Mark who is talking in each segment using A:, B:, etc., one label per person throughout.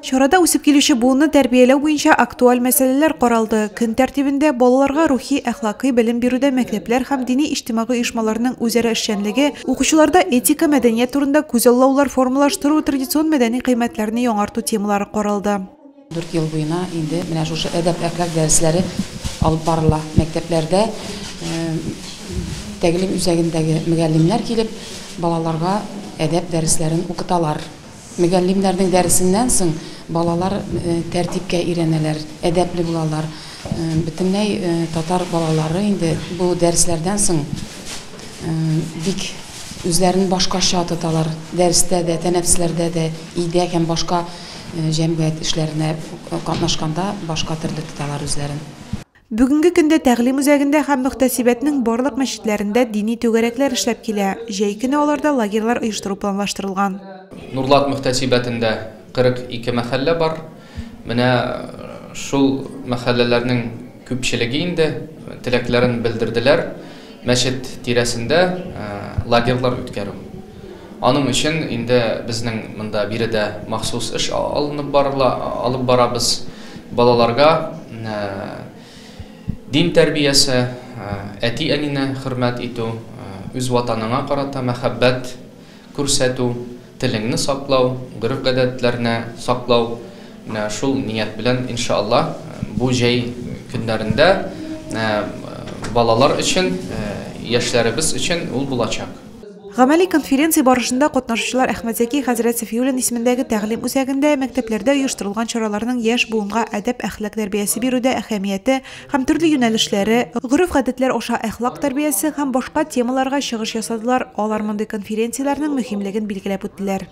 A: Чарада үсеп килүче буынны тәрбияләү буенча актуаль мәсьәләләр каралды. Көн тәртибендә балаларга рухи, әхлакый белем бирүдә мәктәпләр һәм дини-иҗтимагый оешмаларның үзара эшчәнлеге, укучыларда этика, мәдәният турында күзаллаулар формалаштыру, традицион мәдәни кыйммәтләрне яңарту темалары каралды. Дүрт ел буена
B: инде менә шушы әдәп-әхлак дәресләре алып барыла. Мәктәпләрдә тәгълим үзәгендәге мөгаллимнәр килеп, балаларга әдәп дәресләрен укыталар. Мөгаллимнәрнең дәресеннән соң балалар тәртипкә өйрәнәләр, әдәпле булалар. Бөтенләй татар балалары инде бу дәресләрдән соң бик үзләрен башкача тоталар, дәрестә дә, тәнәфесләрдә дә, өйдә һәм башка җәмгыять эшләренә катнашканда башка төрле тоталар үзләрен. Бүгенге
A: көндә тәгълим үзәгендә һәм мөхтәсибәтнең барлык мәчетләрендә дини түгәрәкләр эшләп килә, җәй көне аларда лагерьлар оештыру планлаштырылган. Нурлат
C: мөхтәсибәтендә 42 мәхәллә бар. Менә шул мәхәлләләрнең күпчелеге инде теләкләрен белдерделәр мәчет тирәсендә лагерьлар үткәрү. Аның өчен инде безнең монда биредә махсус эш алынып барыла, алып барабыз. Балаларга дин тәрбиясе, әти-әнине хөрмәт итү, үз Ватаныңа карата мәхәббәт күрсәтү, телеңне саклау, гореф-гадәтләрне саклау, менә шул ният белән, иншаАллаһ, бу җәй көннәрендә балалар өчен, яшьләребез өчен ул булачак. Гамәли
A: конференция барышында катнашучылар Әхмәт Зәки хәзрәт Сафиуллин исемендәге тәгълим үзәгендә мәктәпләрдә оештырылган чараларның яшь буынга әдәп-әхлак тәрбиясе бирүдә әһәмияте һәм төрле юнәлешләре, гореф-гадәтләр аша әхлак тәрбиясе һәм башка темаларга чыгыш ясадылар, алар мондый конференцияләрнең мөһимлеген билгеләп үттеләр.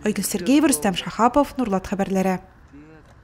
A: Айгөл Сергеева, Рөстәм Шәхапов, Нурлат хәбәрләре.